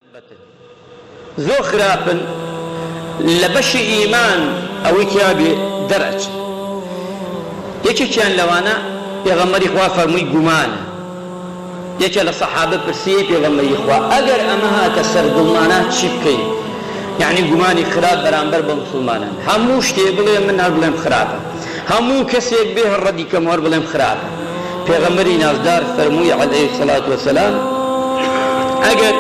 بەتن زۆر خراپن لە بەشی ئیمان ئەوەی تیا بێ دەرئەچن یەکێکیان لەوانە پێغەمبەری خوا فەرمووی گومانە یەکێ لە سەحابە پرسی ئەی پێغەمبەری خوا ئەگەر ئەمە هاتە سەر دڵمانا چی بکەین یەعنی گومانی خراپ بەرامبەر بە موسڵمانان هەموو شتێ بڵێ من هەر بڵێم خراپە. هەموو کەسێک بێ هەر ڕەدی کەم و هەر بڵێم خراپە. پێغەمبەری نازدار فەرمووی، علیە الصلوة و السلام، ئەگەر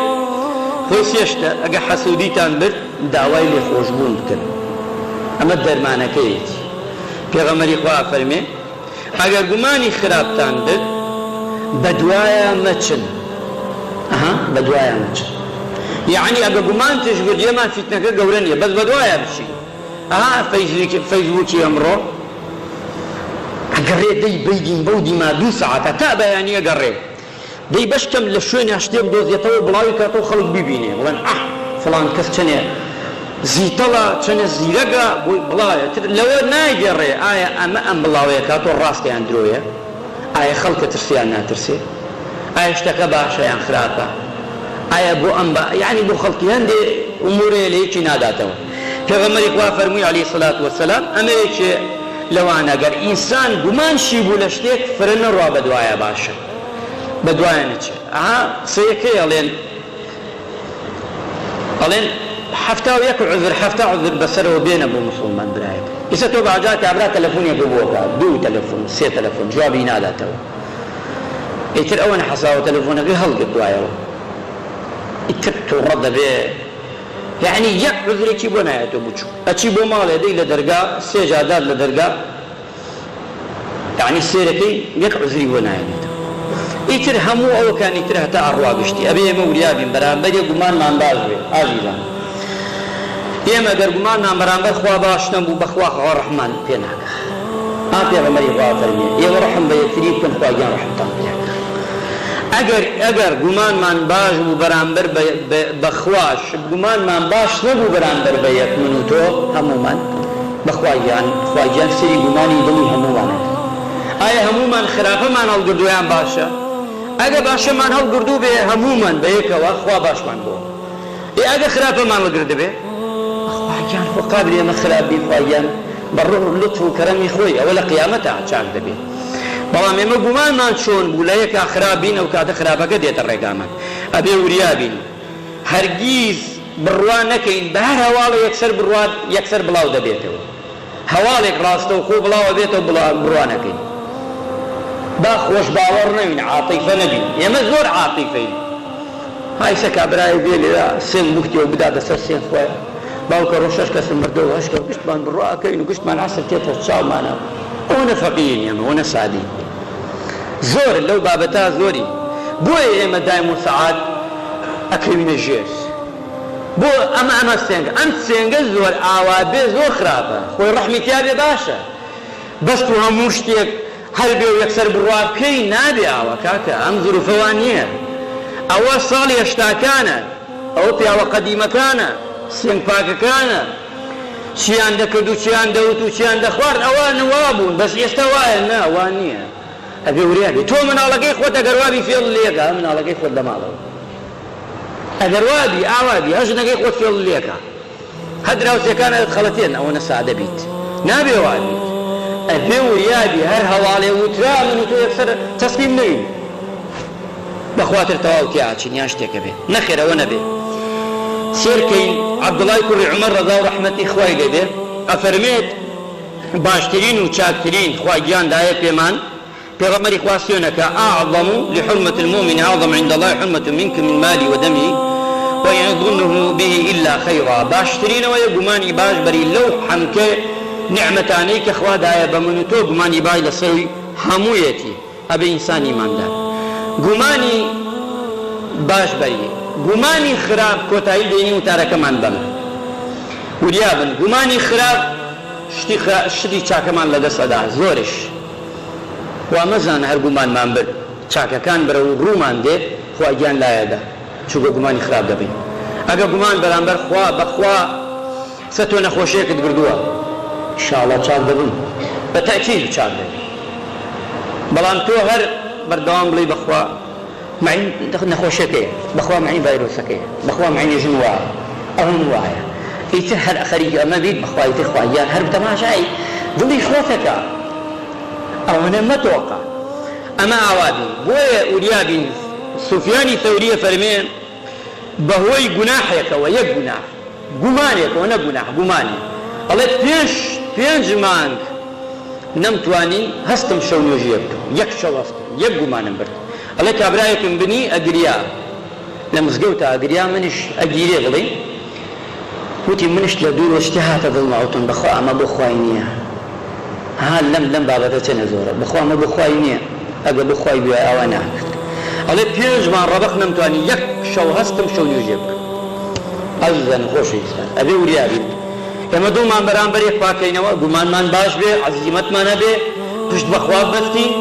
خۆی سێ شتە، ئەگەر حەسوودیتان برد داوای لێخۆشبوون بکەن، ئەمە دەرمانەکەیەتی. پێغەمبەری خوا ئەفەرمێ، ئەگەر گومانی خراپتان برد بەدوایا مەچن. ئەها بەدوایا مەچن یەعنی ئەگەر گومانتش برد، لێمان فیتنەکە گەورە نییە بەس بەدوایا بچین. ئەها فەیسبوکی ئەمڕۆ ئەگەڕێ دەی بەیدیم بەو دیما دوو سەعاتە تا بەیانی ئەگەڕێ دەی بەشکەم لە شوێنێ شتێک دۆزێتەوە بڵاوی کاتەوە خەڵک بیبینێ بڵێن ئەح فڵان کەس چەنێ زیتەڵە چەنێ زیرەگە بۆی بڵاوێ تر لەوە نایگەڕێ ئایا ئەمە ئەم بڵاوەیە کاتۆ ڕاستە یان درۆیە ئایا خەڵکە ترسێ یان ناترسێ ئایا شتەکە باشە یان خراپە ئایا بۆ ئەم بە یانی بۆ خەڵکی هەندێ ئومورەیە لە یەکی ناداتەوە. پێغەمبەری خوا فەرمووی، علیە سەلات وسلام، ئەمە یەکێ لەوانە، گەر ئینسان گومان شی بوو لە شتێک، فرە نەڕوا بە دوایا باشە بە دوایا نەچێ. ئەها قسەیە کەی ئەڵێن، ئەڵێن حەفتا و یەک عوزر، حەفتا عوزر بە سەرەوە بێنە بۆ موسڵمان برایەک. ئیسە تۆ بەجار کابرا تەلەفونێک بۆ بکە، دوو تەلەفون، سێ تەلەفون، جوابی ناداتەوە. ئیتر ئەوەنە حەساوە تەلەفونەکەی هەڵگرتوایەوە. ئیتر توڕە دەبێ. یەعنی یەک عوزرێکی بۆ نایەتۆ بچوو ئەچی بۆ ماڵێ دەی لە دەرگا سێ جار دات لە دەرگا یەعنی سێرەکەی یەک عوزری بۆ ناینێتەوە ئیتر هەموو ئەوەکانی تر هەتا ئەڕوا گشتی ئەبێ ئێمە وریابین بەرامبەرێ گومانمان باش بێ ئازیزان ئێمە گەر گومانمان بەرامبەر خوا باش نەبوو بەخوا خوا ڕەحمان پێ ناکا. ئا پێغەمبەری خوا فەرمووی ئێوە ڕەحم بە یەکتری بکەن خوا گیان ڕەحمتان پێ ئەکات ئەگەر ئەگەر گومانمان باش بوو بەرامبەر بە بە بە خوا شت گومانمان باش نەبوو بەرامبەر بە یەک من و تۆ هەموومان بە خوا گیان خوا گیان سەری گومانی دڵی هەموومان ئەکات ئایا هەموومان خراپەمان هەڵگردووە یان باشە ئەگە باشەمان هەڵگردوو بێ هەموومان بەیەکەوە خوا باشمان بۆ ئێ ئەگەر خراپە مامە گرد دەبێ؟ خواگیان خۆ قابلی ئەمە خراپ بی خواگیان بە ڕوح و لوتف و کەرەمی خۆی ئەوە لە قیامەتا چاک دەبێ بەڵام ئێمە گومانمان چۆن بوو لە یەکا خراپ بین ئەو کاتە خراپەکە دێتە ڕێگامان ئەبێ وریا بین هەرگیز بڕوا نەکەین بە هەر هەواڵێ یەکسەر بڕوات یەکسەر بڵاو دەبێتەوە. هەواڵێک ڕاستەوخۆ بڵاوەبێتەوە بڕوانەکەین با خۆش باوەڕ نەوین عاتیفە نەبین ئێمە زۆر عاتیفەین های سە کابرایەک بێ لێرە سێن بوختیەوە بداتە سەر سێن خۆیان باوکە ڕۆ شەش کەسم مردەوە هەشکە و گشتمان بڕواکەین و گشتمان عەسر تێتە چاومانە ئەوە نەفەقیین ئێمە ئەوە نەسادی زۆر لەو بابەتا زۆری بۆیە ئێمە دایم و سەعات ئەکەوینە ژێر بۆ ئەمە ئەمە سێنگە ئەم سێنگە زۆر ئاوا بێ زۆر خراپە خۆی ڕەحمی تیا بێ باشە بەس تو هەموو شتێک هەر بێ و یەکسەر بڕوا بکەی نابێ ئاوا کاکە ئەم زروفە وا نیە ئەوە ساڵی هەشتاکانە ئەوە پیاوە قەدیمەکانە سێنگ پاکەکانە چیان دەکرد و چیان دەوت و چیان دەخوارد ئەوان وا بوون بەس ئێستا وایە نا وا نیە. ئەبێ وریا بی تۆ مناڵەکەی خۆت ئەگەر وابی فێڵ لێکە مناڵەکەی خۆت لەماڵەوە ئەگەر وابی ئاوا بی هە ژنەکەی خۆت فێڵ لێکە هە دراوسێکانە ئەتخەڵەتێن ئەوەنە سادە بیت نابێ وابیت ئەبێ وریا بی هەر هەواڵێ وترا من و تۆ یەکسەر تەسلیم نەوین بەخواتر تەواو تیاچین یان شتێکە بێ نەخێر ئەوە نەبێ سێرکەین عەبدوڵای کوڕی عومەر ڕەزا و ڕەحمەتی خوای لێبێ ئەفەرمێت باشترین و چاکترین خوا گیان دایە پێمان پێغەمبەری خوا سوێنە کە، اعظم لحرمة المومن اعظم عند اللە حرمة منک من مالی و دمی و ان ظنه به الا خیرا باشترین ئەوەیە گومانی باش بەری لەو حەمکێ نیعمەتانەی کە خوا دایە بە من و تۆ گومانی باش لەسەروی هەموویەتی. ئەبێ ئینسان ئیماندار گومانی باش بەری گومانی خراپ کۆتایی دێنی وتارەکەمان بەمە وریا بن گومانی خراپ شتی خرا شتی چاکەمان لەدەست ئەدا زۆرش وا مەزانە هەر گومانمان برد چاکەکان برە و ڕوومان دێ خوا گیان لایەدا چووکە گومانی خراپ دەبین ئەگە گومان بەرامبەر خوا بەخوا سە تۆ نەخۆشێکت بردووە ئیشاڵا چاک دەبم بە تەئکید چاک دەبی بەڵام تۆ هەر بەردەوام بڵێی بەخوا مەعی نەخۆشەکەیە بەخوا مەعی ڤایرۆسەکەیە بەخوا مەعی ژن وایە ئەون وایە ئیتر هەر ئەخەریکی ئەمە بیت بەخوا ئیتر خوا گیان هەر بتەماشای دڵی خۆتەکە ئەوەنە مەتۆقە ئەمە ئاوا بی بۆیە وریا بی سوفیانی ثەوری ئەفەرمێ بەهۆی گوناحێکەوە، یەک گوناح، گومانێکەوە، نەک گوناح، گومانی، ئەڵێت پێش پێنج مانگ نەمتوانی هەستم شەو نوێژییەک بکەم، یەک شەو هەستم، یەک گومانم برد، ئەڵێ کابرایەکم بینی ئەگریا لە مزگەوتا ئەگریا، منیش ئەگیرێ بڵێی، وتی منیش لە دوورەوە شتێ هاتە دڵما وتم بەخوا ئەمە بۆ خوای نیە ها لەم لەم بابەتە چەنە زۆرە بەخوا ئەمە بۆ خوای نیە ئەگە بۆ خوای بوایە ئاوا ناکرد ئەڵێ پێنج مانگ ڕەبەق نەمتوانی یەک شەو هەستم شەو نوێژێ بکەم ئازیزانی خۆشەویستان ئەبێ وریا بین ئێمە دڵمان بەرامبەر یەک پاکەینەوە گومانمان باش بێ عەزیمەتمان هەبێ پشت بەخوا ببەستین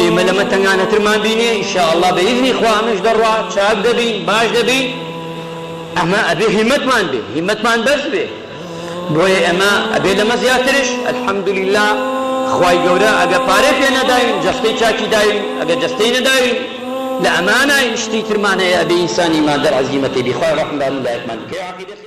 ئێمە لەمە تەنگانەترمان بینێ ان شاء اللە بە ئیزنی خوا ئەمەش دەڕوا چاک دەبین باش دەبین ئەمە ئەبێ هیمەتمان بێ هیمەتمان بەرز بێ بۆیە ئێمە ئەبێ لەمە زیاترش الحمدللە خوای گەورە ئەگەر پارەی پێ نەداین جەستەی چاکی داوین ئەگەر جەستەی نەداوین لە ئەمانە شتی ترمان هەیە ئەبێ ئینسان ئیماندار عەزیمەتێ بی خوایە ڕەحم بە هەموو لایەکمان بکەی.